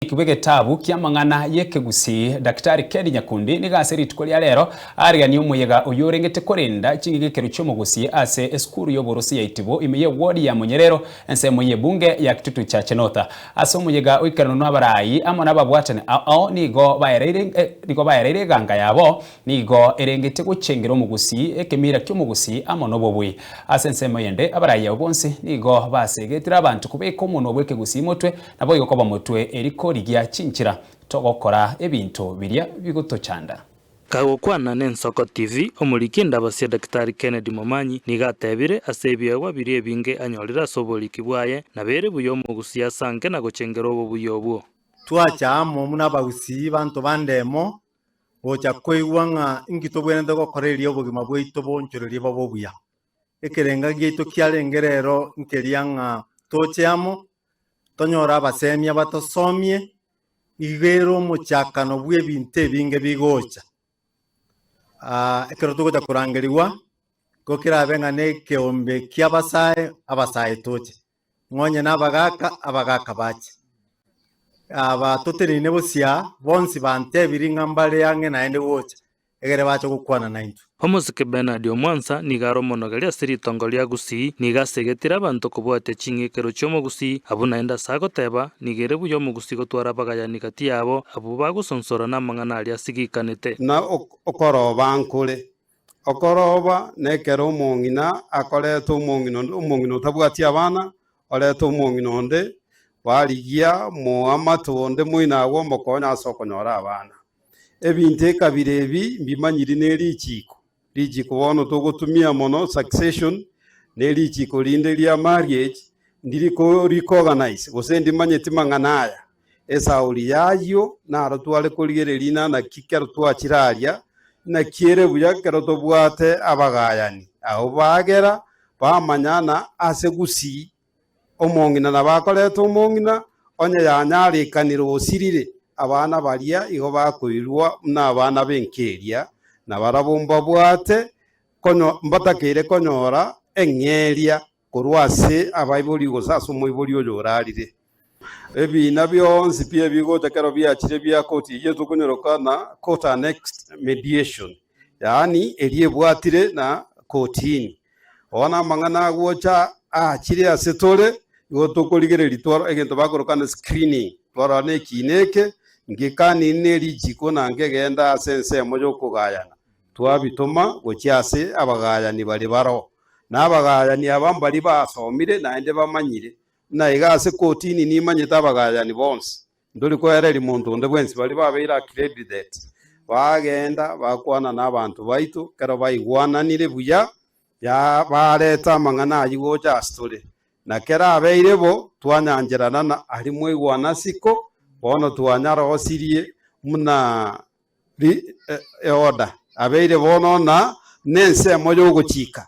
Ekebe getabu ki'amang'ana y'ekegusii Daktari Ken Nyakundi nigo ase rituko ria rero aarianie omoyega oyorengete korenda ching'egekero chi'omogusii ase esukuru y'oborosi ya Itibo ime y'ewodi ya Monyerero ensemo y'ebunge ya Kitutu Chache North. Ase omoyega oikaranwa n'abarai amo nababwatani ao nigo baereire eganga yabo nigo erengete gochengera omogusii ekemira ki'omogusii amo nobobui. Ase ensemo eyende abarai ao bonsi nigo basegetire abanto kobeka omonwa bw'ekegusii motwe Naboigo koba motwe eri korigia chinchera togokora ebinto biria bigotochanda. Kagokwana n'Ensoko TV, omoriki Ndabasio Daktari Kennedy Momanyi nigo atebire ase ebiegwa biria ebinge anyorire ase oboriki bwaye, nabeire buya omogusii ase anke na gochengera obobuya obwo. Twacha amo buna abagusii banto bande emo gocha koigwa ng'a inki tobwenerete gokora erio obogima bwaito boonchorerie bobe obuya. Ekerenga giaito kiarenge rero nkeria ng'a toche amo tonyore abasemia batosomie iga ere omochakano bw'ebinto ebinge bigocha. Ah, ekero togocha korangerigwa, igo kerabe ng'a nekeombe ki'abasae, abasae toche, ng'onye nabagaaka, abagaaka bache. Aba toteneine bosio aa, bonsi bantebiri ng'a mbare ang'e naende gocha, ekero bacha gokwana naintwe. Omosike Bernard Omwansa nigo are omonogeria ase ritongo ria Gusii, nigo asegetire abanto kobwatia ching'ikero chi'Omogusii, abwo naende ase agoteba, nigo ere buya Omogusii gotwara abagayani gati yabo, abwo bagosonsora namang'ana aria asigikanete. Na okoroba nkore. Okoroba nekero omong'ina akoreta omong'ina onde, omong'ina otabwati abana, oreta omong'ina onde, barigia moamate onde moino agwo omokonye ase okonyora abana. Ebinto ekabira ebi mbimanyiri ne richiiko. Richiiko bono togotumia mono succession, ne richiiko rinde ria marriage ndiri ko recoganize gose ndimanyeti mang'ana aya. Esauri y'ayio naro tware korigereria inaa naki kero twachiraria naki ere buya kero tobwate abagayani. Agho bagera bamanyana ase gusii. Omong'ina nabakorete omong'ina, onye yanyarekanire osirire, abana baria igo bakoirwa buna abana b'enkeria, na barabwo mbabwate mbatakeire konyora eng'eria korwa ase abaibori gose ase omoibori oyo orarire. Ebiina bionsi bi'ebigocha ekero biachire bia koti ya Yeso konyoroka na court annexed mediation, yaani eria ebwatire na kortini, Oo namang'ana agocha aachire ase tore, igo tokorigereria twarora egento bakorokana screening, twarora na ekiina eke, ngekania ne richiiko na nkegenda ase ensemo y'okogayana. Twabitoma gochia ase abagayani bare baroo, na abagayani aba mbaria basomire naende bamanyire, na iga ase kotini nimanyete abagayani bonsi. Ntori koereria monto onde bwensi. Baria babeire accredited bageenda bakwana n'abanto baito, ekero baigwananire buya ya- baareta amang'ana ayio gocha ase tore, na kera abeire bo twanyancherana na aria mwaigwana isiko, bono twanyarosirie buna ri- e- eorder abeire bono na n'ensemo y'ogochika.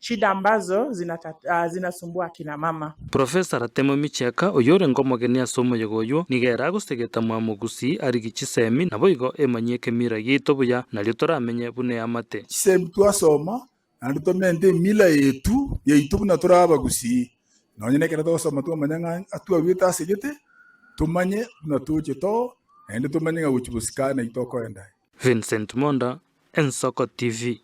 Shida ambazo zinata, zinasumbua akina mama. Professor Ratemwa Micheka, oyorenge omogeni ase omoyega oywo, nigo ere agosegeta Mwamo Gusii arigie chisemi, naboigo emanyie ekemira giaito buya, nario toramenye buna eamate. Chisemi twasoma, naende tomente emila yetu yaito buna tore Abagusii. Nonye nekero togosoma twamanya ng'a atwarwete asegete, tomanye buna toche too, naende tomanye ng'a gochia bosika nai tokorenda aye. Vincent Monda, Ensoko TV.